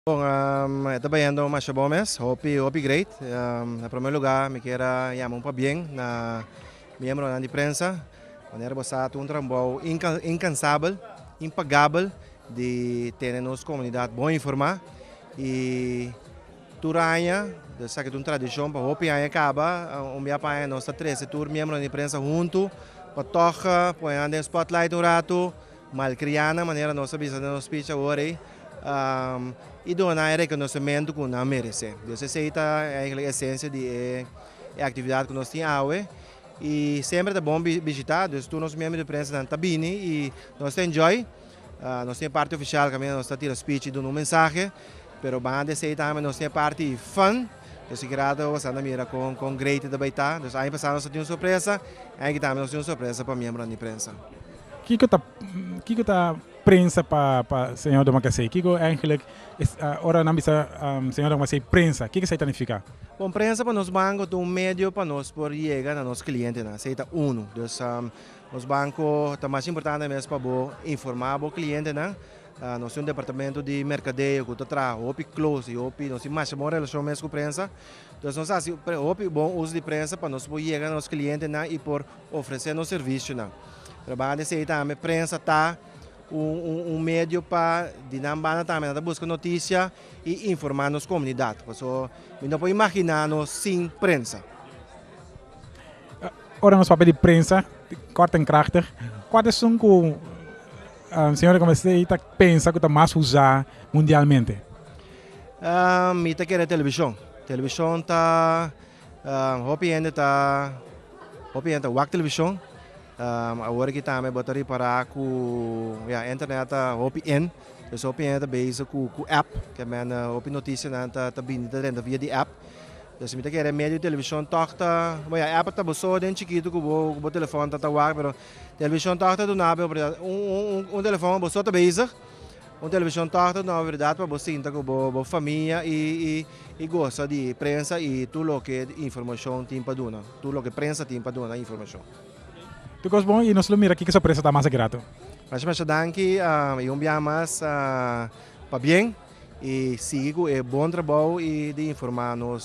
Bon e ta bayendo masha bon mes hopi hopi great na prome luga mi kier a yama un pabien na miembronan di prensa manera bo sa ta un trabou inkansabel impagabel di tene nos komunidat bon informa y tur aña bo sa ke ta un tradishon pa hopi aña kaba un bia pa aña nos ta trese tur miembronan di prensa huntu pa tok pone nan den spotlight un ratu. Malcrianan manera nos ta bisa den nos speech awor ey, y dona e reconocemento cu nan merece. Dios esey ta e esencia di e actividad cu nos tin awe y semper ta bon bishita, dus tur nos miembro di prensanan ta bini y nos ta enjoy, nos tin e parti oficial caminda nos ta tira speech y duna un mensahe, pero banda esey tambe nos tin e parti di fun, nos tin kira ta wasa na mira con great ta bay ta, aña pasa nos tin un sorpresa, e aña aki tambe nos tin un sorpresa pa miembronan di prensa. Kiko ta kiko ta prensa pa pa Señor Don Bakasei? Kiko eigenlijk es ora nan bisa Señor Don Bakasei prensa kiko esei ta nifiká? Bon, prensa pa nos banko ta un medio pa nos por yega na nos klientenan, esei ta unu. Dus nos banko ta mas importante mes pa bo informá bo klientenan. Nos tin un departamento di merkadeo ku ta traha hopi klos i hopi nos tin masha bon relashon mes ku prensa. Dus nos hasi hopi bon us di prensa pa nos por yega na nos klientenan i por. Ofresé nos servisionan. Pero banda di esei tambe prensa ta un medio pa di nan banda tambe nan ta buska notisia i informá nos komunidat. Paso mi no por imaginá nos sin prensa. Ora nos papia di prensa, kort en krachtig, kual esun ku señor Recondo Esei ta pensa ku ta mas usá mundialmente? Mi ta kere televishon. Televishon ta. Hopi hende ta hopi hende ta wak televishon awor aki tambe bo ta ripará ku ya internet ta hopi in pues hopi hende ta bezig ku ku app ke mene hopi notisianan ta ta bini ta renta via di app pues mi ta kere medio di televishon tòg ta bo ya app ta bo so den chikitu ku bo ku bo telefòn ta ta wak pero televishon tòg ta duna bo oportunidat un un un telefòn bo so ta bezig Un television talk ta duna oportunidad pa bo sinta cu bo famia y goza di prensa y tur loke informacion tin pa duna, tur loke prensa tin pa duna informacion. Tur cos bon y nos lo mira kiko sorpresa ta mas aki rato. Masha masha danki y un biaha mas pabien y sigui cu e bon trabao y di informa nos.